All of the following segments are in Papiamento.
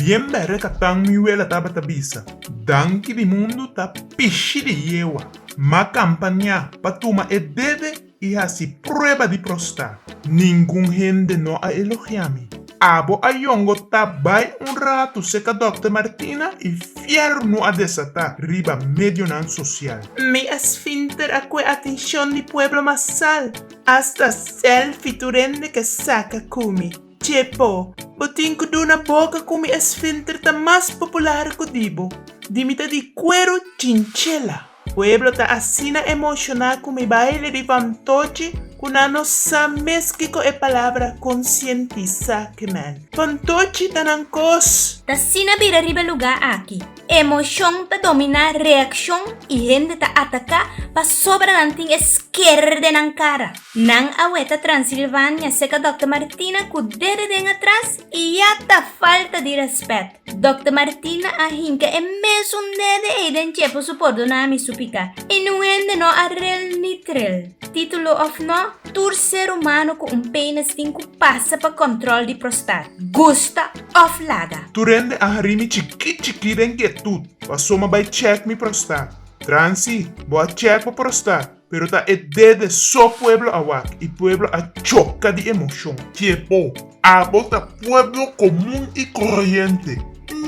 Bien bere captan mi wela tabata bisa. Danki di mundu ta pishi di yewa, ma campania pa tuma e dede y haci prueba di prosta. Ningun hende no a elogia mi. Abo a yongo ta bay un ratu seca Dokter Martina y fier nu a desata riba medionan social. Mi a sfinter a cue atencion di pueblo masal. Asta selfi tur hende ke saka ku mi. Che po, bo tin ku duna boka ku mi esfinter ta mas popular ku di bo. Di mi ta di kueru chinchela. Pueblo ta asina emoshoná ku mi baile di fantochi ku nan no sa mes kiko e palabra konsientisá ke men. Fantochi ta nan kos! Ta asina bira riba e lugá aki. Emocion ta domina reaccion y hende ta ataca pasobra nan tin e skerer den nan cara. Nan a weta Transilvania seca Dòkter Martina cu dede den atras y ya ta falta di respet. Dòkter Martina a hinca e mesun dede ey den cepo su por dona mi su pica y nun hende no a rel ni trel. Titulo of no, tur ser humano cu un penis tin cu pasa pa control di prostat. Gusta! òf laga. Tur hende a harí mi chikí chikí den kietut, pasó m'a bai chèk mi prostat. Transi, bo a chèk bo prostat, pero ta e ded de so pueblo awak i pueblo a choka di emoshon. Ke bo? Abo ta pueblo komun i koroyente,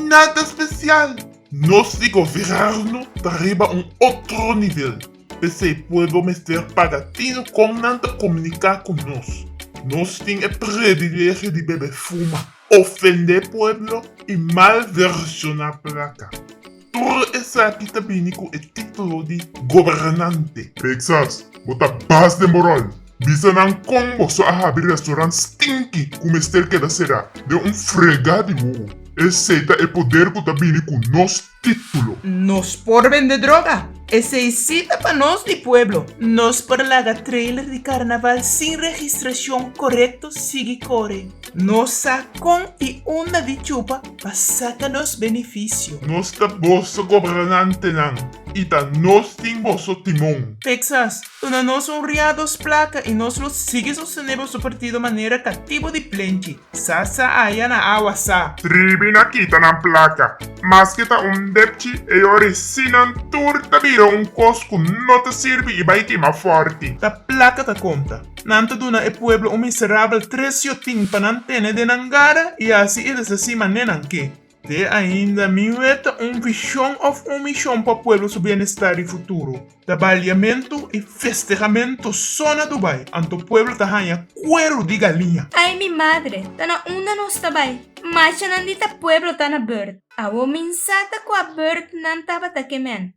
nada spesial! Nos di gobièrnu ta riba un otro nivel. P'esei, pueblo mester paga tino kon nan ta komuniká ku nos. Nos tin e privilegio di bebe fuma, ofendé pueblo i malvershoná plaka. Tur esaki ta bini ku e título di gobernante. Texas, bo ta bas den bo ròl. Bisa nan kon bo so a habri restaurant stinki ku mester keda será den un fregá di wuwu. Esei ta e poder ku ta bini ku nos. titulo. Nos por bende droga? Esei si ta pa nos di pueblo. Nos por laga trailer di carnaval sin registracion corecto sigui core. Nos sa con y unda di chupa pa saca nos beneficio. Nos ta boso gobernantenan y ta nos tin boso timon. Texas, duna nos un riados placa y nos lo sigui sostene boso partido manera catibo di plenchi. Sa sa aya na awa sa. Ribi na kita nan plaka. Maske ta un depchi e yori si nan tur ta bira un kos ku no ta sirbi i bai kima fòrti. Ta plaka ta konta. Nan ta duna e pueblo un miserabel tres yotin pa nan tene den nan gara i asi i desa sima nenan ke. Te ainda mi weta un vision of un mision pa pueblo su bienestar di futuro. Ta baliamentu y festejamentu so na Dubai, anto pueblo ta haña cuero di galiña. Ay mi madre, ta na unda nos ta bay. Machanan di ta pueblo ta na beurt. Awo minsa ta cua beurtnan tabata ke men.